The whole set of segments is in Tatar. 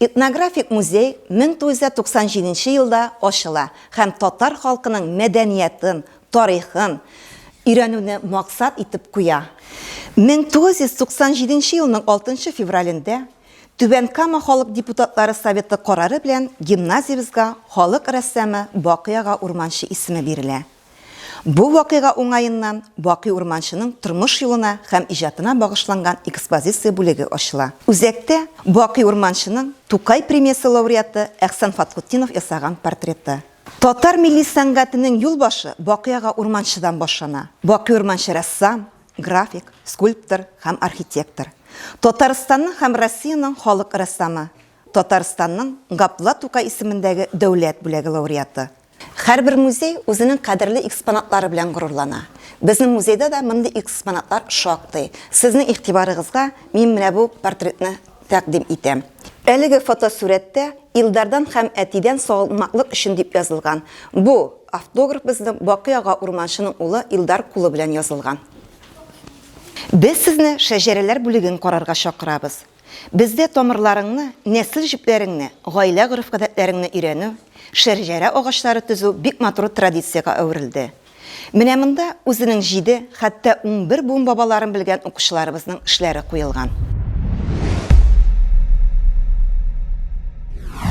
Этнографик музей 1997 елда ачыла һәм татар халкының мәдәниятын, тарихын өйрәнүне максат итеп куя. 1997 елның 6 февралендә Түбән Кама халык депутатлары советы карары белән гимназиябезгә халык рәссамы Бакый ага Урманче исеме бирелә. Бу вакыйга уңаеннан Бакый Урманчының тормыш юлына һәм иҗатына багышланган экспозиция бүлеге ачыла. Үзәктә, Бакый Урманчының Тукай премиясе лауреаты Әхсән Фатхутдинов ясаган портреты. Татар милли сәнгатенең юл башы Бакый ага Урманчыдан башлана. Бакый Урманчы рәссам, график, скульптор һәм архитектор. Татарстанның һәм Россиянең халык рәссамы, Татарстанның Габдулла Тукай исемендәге дәүләт бүләге лауреаты. Һәрбер музей үзенең кадерле экспонатлары белән горурлана. Безнең музейда да мондый экспонатлар шактый. Сезнең игътибарыгызга мин менә бу портретны тәкъдим итәм. Әлеге фотосурәттә Илдардан һәм әтидән салмаклык өчен дип язылган. Бу автограф безнең Бакый ага Урманчының улы Илдар кулы белән язылган. Без сезне шәҗәрәләр бүлеген карарга чакырабыз. Бездә тамырларыңны, нәсел җепләреңне, гаилә гореф-гадәтләреңне өйрәнү, шәрҗәрә агачлары төзү бик матур традициягә әверелде. Менә монда үзенең җиде, хәтта унбер буын бабаларын белгән укучыларыбызның эшләре куелган.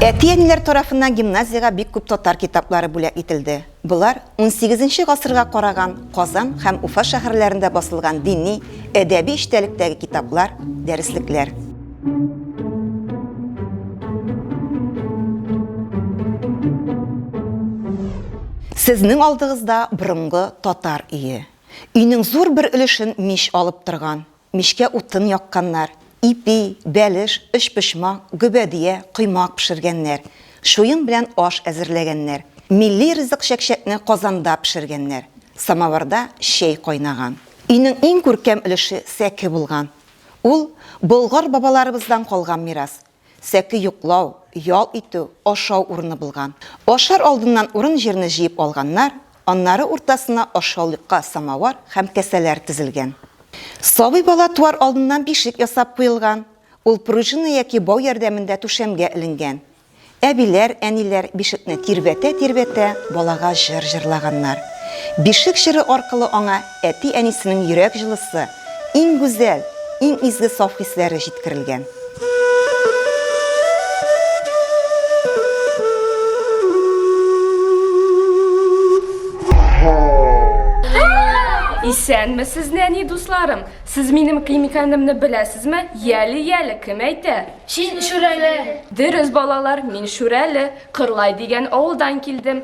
Әти-әниләр тарафыннан гимназиягә бик күп татар китаплары бүләк ителде. Болар унсигезенче гасырга караган Казан һәм Уфа шәһәрләрендә басылган дини, әдәби эчтәлектәге китаплар, дәреслекләр. Сезнең алдыгызда борынгы татар өе. Өйнең зур бер өлешен мич алып торган. Мичкә утын якканнар, ипи, бәлеш, өчпочмак, гөбәдия, коймак пешергәннәр, чуен белән аш әзерләгәннәр. Милли ризык чәкчәкне казанда пешергәннәр. Самавырда чәй кайнаган. Өйнең иң күркәм өлеше сәке булган. Ул, Болгар бабаларыбыздан калган мирас. Сәке йоклау, ял итү, ашау урыны булган. Ашар алдыннан урын-җирне җыеп алганнар, аннары уртасына ашъяулыкка самавар һәм кәсәләр тезелгән. Сабый бала туар алдыннан бишек ясап куелган, ул пружина яки бау ярдәмендә түшәмгә эленгән. Әбиләр, әниләр бишекне тирбәтә-тирбәтә балага җыр җырлаганнар. Бишек җыры аркылы аңа Әти-әнисенең йөрәк җылысы, иң гүзәл, иң изге саф хисләре җиткерелгән. Исәнмесез, нәни дусларым! Сез минем ким икәнемне беләсезме? Яле, яле, кем әйтә? Син Шүрәле! Дөрес, балалар, мин Шүрәле, Кырлай дигән авылдан килдем.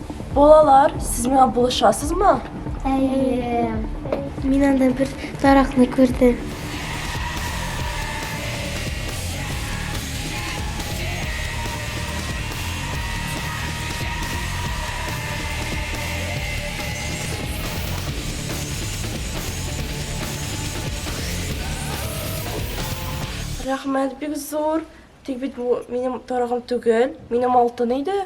Балалар, сез миңа булышасызмы? Әйе. Мин анда бер таракны күрдем. Рәхмәт бик зур. Тик бит бу минем тарагым түгел, минем алтын иде.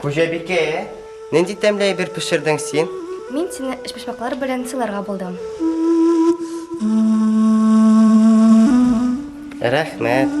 Хуҗабикә, нинди тәмле әйбер пешердең син? Мин сине эчпочмаклар белән сыйларга булдым. Рәхмәт.